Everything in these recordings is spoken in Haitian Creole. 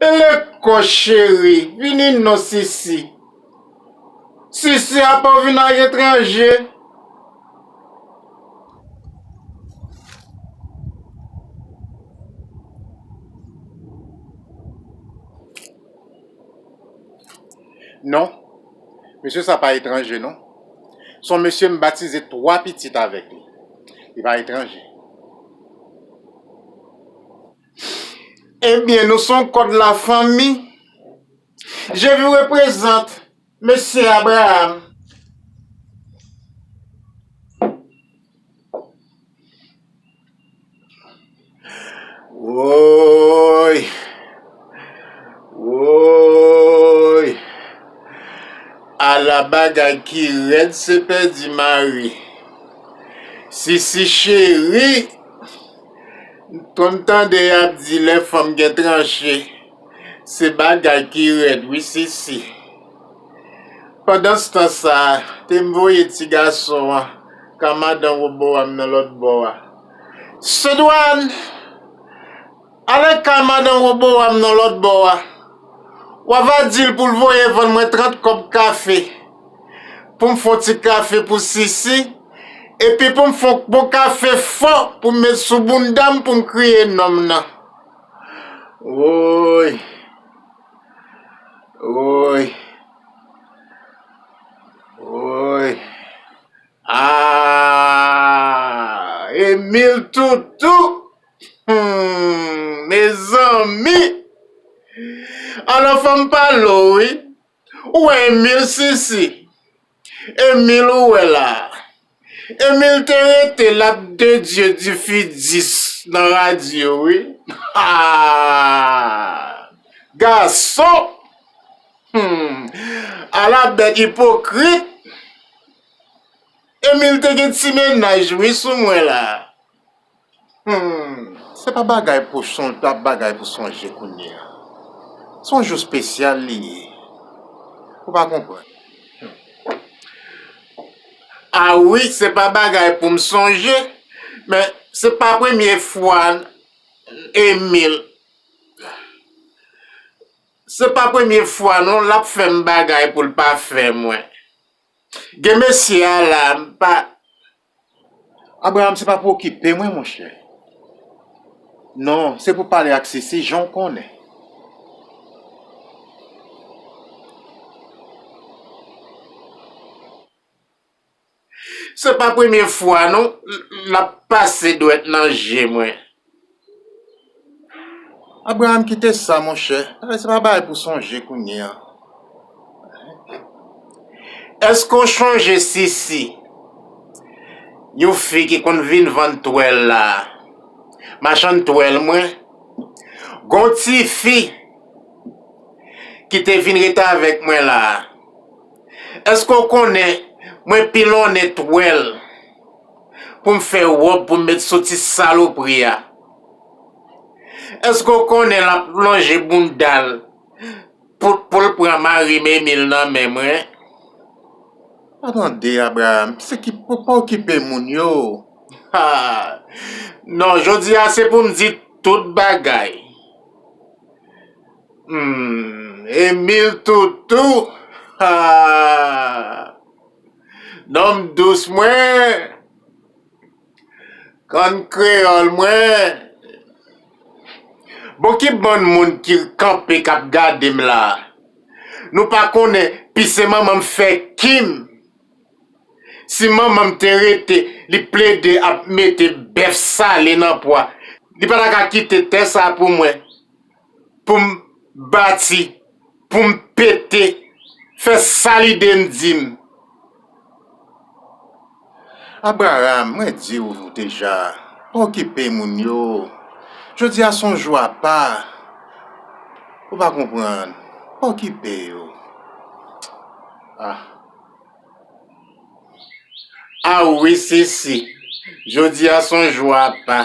Eleko cheri vini non sisi. Sisi apa w vin ak etranje. Non mesye sa pa etranje non son mesye m batize 3 pitit avèk li li pa etranje. Ebyen nou son kòd la fanmi. Je vous represente Mesye Abraham. Woy! Woy! Ala bagay ki rèd se pèdi mari. Sisi cheri! M konn tande yap di lè fanm gen tranche se bagay ki rèd wi sisi. Pandanstan sa te m voye ti gason an ka madan Roboam nan lòt bò a. Sedwàn! Ale ka madan Roboam nan lòt bò a. Wa va di l pou l voye vann mwen trant kòb kafe. pou m fè yon ti kafe pou Sisi, epi pou m fè yon bon kafe fò pou m met sou bounda m pou m kriye nonm nan. Woy! Woy! Woy! Aah! Emil Toutou! Humm! Mezanmi! Alò fò m pale w wi. Ou wè Emil sisi. Emil ou wè la. Emil te rete lap de Dieu di fi dis nan radio wi haa gason humm ala bèt ipokrit Emil te gen ti mennaj wi sou mwen la. Humm se pa bagay pou sonje pa bagay pou sonje kounye a son jou spesyal li ye ou pa konprann humm a wi se pa bagay pou m sonje men se pa premye fwa Emil se pa premye fwa non l ap fè m bagay pou l pa fè mwen gen mesye a la m pa. Abraham se pa pou okipe mwen monchè non se pou pale ak sisi jan w konnen. Se pa premye fwa non lap pase dwèt nan je mwen. Abraham kite sa monchè, bagay se pa bagay pou sonje kounye an. Eske w chonje Sisi, yon fi ki konn vin vann twèl la, machann twèl mwen? Gon ti fi ki te vin ret avèk mwen la, eske w konnen mwen pilonnen twèl? poum fè rob poum met sou ti salopri a eske ou konnen lap lonje boundal poul pran marim Emile nan men mwen. Pa tande Abraham, se ki pou pa okipe moun yo. Haa non jodi a se pou m di tout bagay humm Emile toutou haa. Nonm dous mwen, Kòn kreyòl mwen. Bon ki bann moun ki kanpe k ap gade m la a? Nou pa konnen pise manman m fè Kim? Si manman m te rete li plede ap mete bèf sale nan pwa, li pa ta ka kite tè sa pou mwen. pou m bati, pou m pete, fè sa lide m di m. Abraram, mwen di w deja, pa okipe moun yo. Jodi a se yon jou apa. Ou pa konprann. Pa okipe yo. Ah. Ah wi Sisi, jodi a se yon jou apa.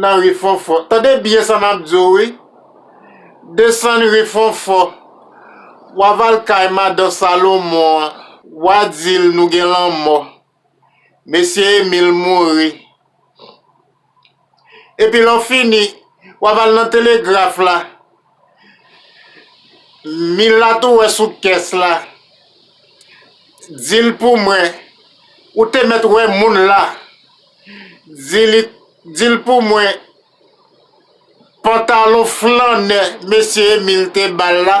nan ri fonfon tande byen sa map diw wi desann ri fonfon wa va al kay madan salomon an wa dil nou gen lanmò mesye emil mouri epi lè w fini wa va al nan telegraf la Milat ou wè sou kès la, di l pou mwen, ou te mèt wè moun la, di l pou mwen, pantalon flannè mesye Emil te ba l la,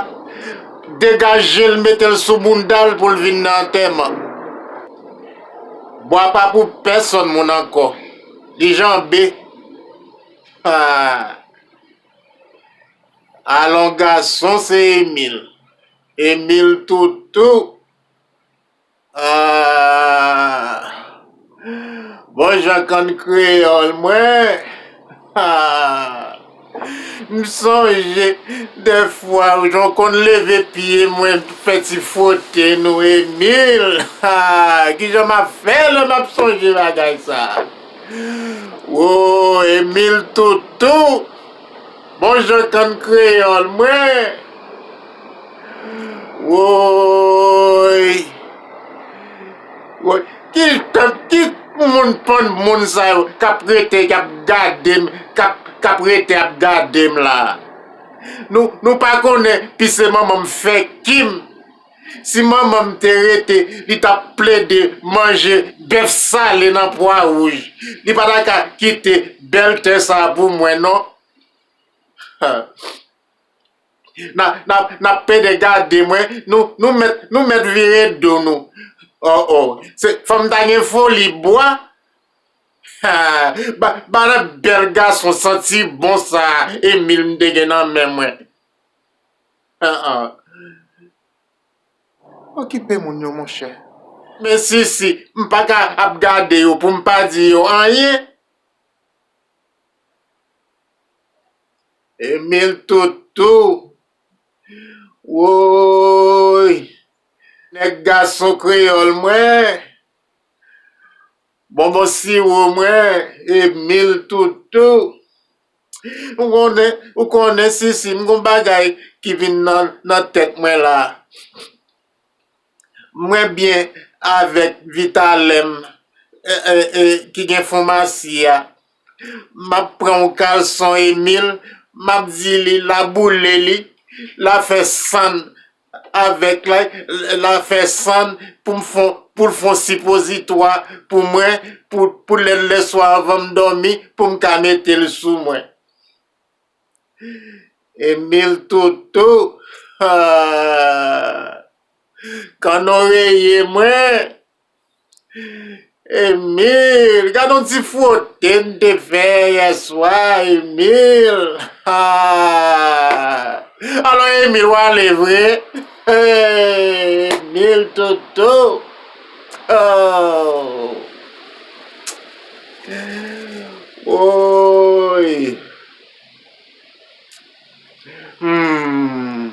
degaje l mete l sou bounda l pou l vin nan antèman. Bwa pa pou pèsòn moun ankò, li janbe. Alon gason se Emil. Emil toutou aah bon jan kann kreyòl mwen aah m sonje dè fwa jan w konn leve pye mwen fè ti fwote nou Emil aah kijan m ap fè lè m ap sonje bagay sa. Wooh Emile toutou bon jan kann kreyol mwen Wooyy Ki moun pon moun sa yo kap rete kap gadem kap rete ap gadem la Nou pa konnen pise manmanm fè kim. Si manman m te rete, li t ap plede manje bèf sale nan pwa wouj. Li pa ta ka kite bèl tè sa a pou mwen non. N ap pede gade mwen, nou mèt vire do nou. Oh oh, se fò m ta gen foli bwa. Ba nan bèl gason santi bon sa a Emil m te gen nan men mwen. Haa Okipe moun yo monchè. Men sisi m paka ap gade yo pou m pa di yo anyen. Emil toutou Woyy nèg gason kreyòl mwen. Bonbon siwo mwen e mil toutou. Ou konnen sisi m gon bagay ki vin nan tèt mwen la. Mwen byen avèk vitalè m ki gen fonmasi a. M ap pran yon kalson Emil m ap di li la boule li la fè sann avèk lay la fè sann pou m fon pou l fon sipozitwa pou mwen pou pou lè lè swa anvan m dòmi pou m ka mete l sou mwen. Emil toutou haa kannon reye mwen. Emil, gadon ti fwote n te fè yè swa Emil. Alò Emil w ale vre? Emil toto. Woy. Humm.